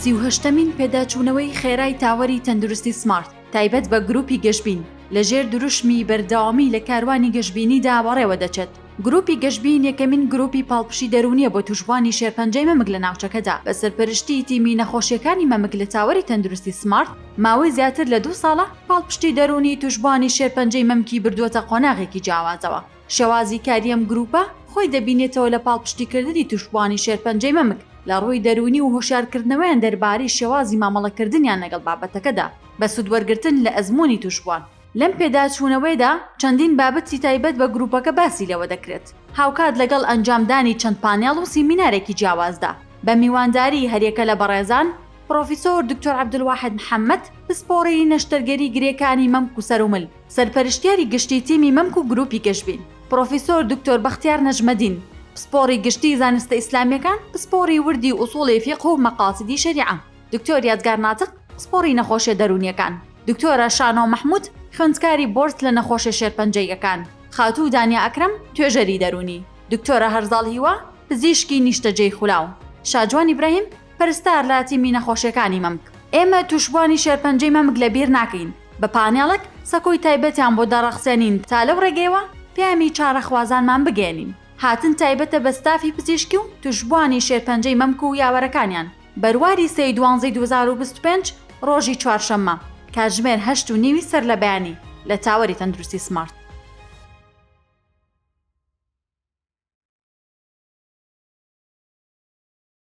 سی و هەشتەمین پێداچوونەوەی خێرای تاوەری تەندروستی سمارت تایبەت بە گروپی گەشبین لە ژێر دروشمی بەردەوامی لە کاروانی گەشبینیدا بەڕێوە دەچێت. گروپی گەشبین یەکەمین گروپی پاڵپشی دەروونییە بۆ تووشبووانی شێرپەنجەی مەمک لە ناوچەکەدا، بە سەرپەرشتیی تیمی نەخۆشییەکانی مەمک لە تاوەری تەندروستی سمارت ماوەی زیاتر لە دوو ساڵە پاڵپشتی دەروونی تووشبووانی شێرپەنجەی مەمکی بردووەتە قۆناغێکی جیاوازەوە. شێوازی کاری ئەم گرووپە خۆی دەبینێتەوە لە پاڵپشتیکردنی تووشبووانی شێرپەنجەی مەمک لە ڕووی دەروونی و هۆشیارکردنەوەیان دەربارەی شێوازی مامەڵەکردنیان لەگەڵ بابەتەکەدا بە سوودوەرگرتن لە ئەزموونی تووشبووان. لەم پێداچوونەوەیدا چەندین بابەتی تایبەت بە گرووپەکە باسی لێوە دەکرێت، هاوکات لەگەڵ ئەنجامدانی چەند پانێڵ و سیمینارێکی جیاوازدا بە میوانداریی هەریەکە لە بەڕێزان پڕۆفیسۆر دکتۆر عەبدولواحید محەمەد، پسپۆڕی نەشتەرگەری گرێکانی مەمک و سەرومل. سەرپەرشتیاری گشتی تیمی مەمک و گروپی گەشبین، پرۆفیسۆر دکتۆر بەختیار نەجمەدین، پسپۆڕی گشتی زانستە ئیسلامیەکان، پسپۆڕی وردی ئوسوڵی فیقه و مەقاسیدی شەریعە، دکتۆر یادگار ناتق، پسپۆڕی نەخۆشیە دەرونیەکان، دکتۆرە شانۆ مەحمود، خوێندکاری بۆرد لە نەخۆشیە شێرپەنجەییەکان، خاتوو دانیە ئەکرەم، توێژەری دەرونی، دکتۆرە هەرزاڵ هیوا، پزیشکی نیشتەجێی خولاو، شاجوان ئیبراهیم، پەرستار لە تیمی نەخۆشیەکانی مەمک، ئێمە توشبوانی شێرپەنجەی مەمک لە بیر ناکەین، بە پانێڵەک سەکۆی تایبەتیان بۆ دەڕەخسێنین تا لەو ڕێگەیەوە پەیامی چارەخوازانمان بگەیەنین. هاتن تایبەتە بە ستافی پزیشکی و توشبوانی شێرپەنجەی مەمک و یاوەرەکانیان. بەرواری سێی دوانزەی دوو هەزار و بیست و پێنج ڕۆژی چوارشەممە کاتژمێر هەشت و نیوی سەر لە بەیانی لە تاوەری تەندروستی سمارت.